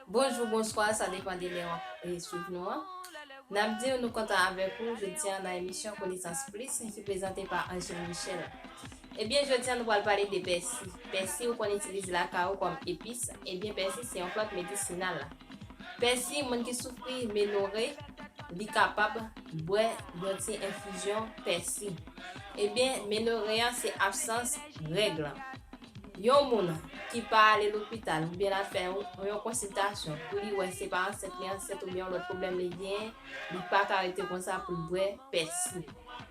Bonjou, bonswa, sa depan de lè wap swiv nou an. Nap di w nou kontan avèk ou jodi an nan emisyon Konesans Plis ki prezante pa Angeline Michel. Ebyen jodi an nou pral pale de pèsi. Pèsi ou konn itilize lakay ou kòm epis, ebyen pèsi se yon plant medisinal. Pèsi, moun ki soufri menore, li kapab bwè yon ti enfizyon pèsi. Ebyen, menore a se absans règ lan. Yon moun ki pa ale lopital oubyen l al fè yon konsiltasyon pou li wè se pa ansent li ansent oubyen yon lòt pwoblèm li genyen, li pa ka rete konsa pou l bwè pèsi.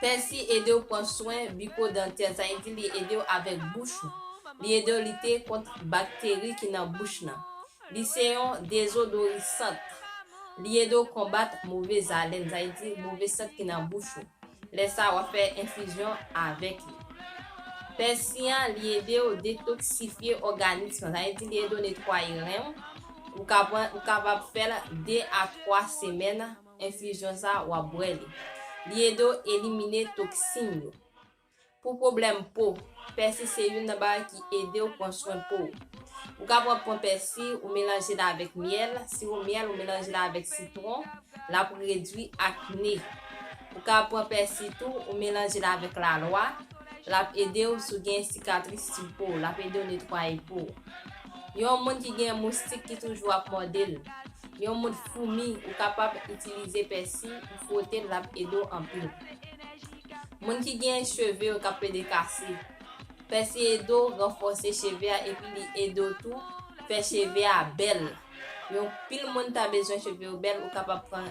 Pèsi edew pran swen biko dantè sa vle di li edew avèk bouch ou li edew lite kont bakteri ki nan bouch nan li se yon dezodorisant li edew konbat move zalèn sa vle di move sant ki nan bouch ou lè sa wap fè enfizyon avèk li pèsi an li edew detoksifye òganis lan sa vle di li edew netwaye renw ou kapab fèl 2 a 3 semèn Enfizyon sa a, w ap bwè li. Li ede w elimine toksin yo. Pou pwoblèm po, pèsi se youn nan bagay ki ede w pran swen po w. Ou kapab pran pèsi, ou melanje l avèk myèl, siwo myèl, ou melanje l avèk sitwon, l ap redwi akne. Ou ka pran pèsi tou, ou melanje l avèk lalwa, l ap ede w si w gen sikatris sou po w, l ap ede w netwaye po w. Yon moun ki gen moustik ki toujou ap mòde l. Yon moun foumi ou kapab itilize pèsi ou fwote l lap ede w anpil. Moun ki gen cheve yo kap pede kase. Pèsi ede w ranfòse cheve a epi li ede w tou fè cheve a bèl. Yon pil moun ta bezwen cheve yo bèl ou kapab pran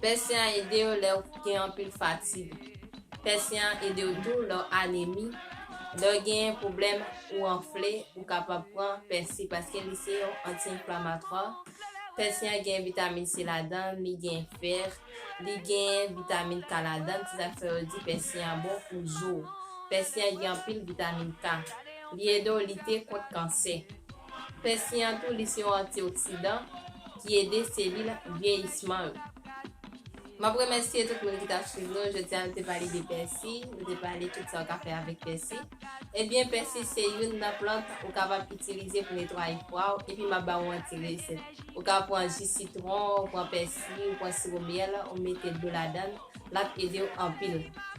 Pèse an ede w lè w gen anpil fatig. Pèse an ede w tou lè w anemi. Lè w genyen pwoblèm ou anfle, ou kapab pran pèse paske li se yon anti-enflamatwa. Pèse an gen vitamin C ladan l, li gen fer, li gen vitamin K ladan l, se sa k fè yo di pèse an bon pou zo w. Pèse an gen anpil vitamin K. Li ede w lite kont kansè. Fè siyan tou li se yon antioksidan ki ede selil vyeyisman yo. Map remèsye tout moun ki tap swiv nou, jodi a nou te pale de pèsi, nou te pale tout sa ou ka fè avèk pèsi. Ebyen pèsi se youn nan plant ou kapab itilize pou netwaye fwa ou epi map ba ou yon ti resèt. Ou ka pran ji sitwon, ou pran pèsi, ou pran siwo myèl ou mete dlo ladann, lap edew anpil.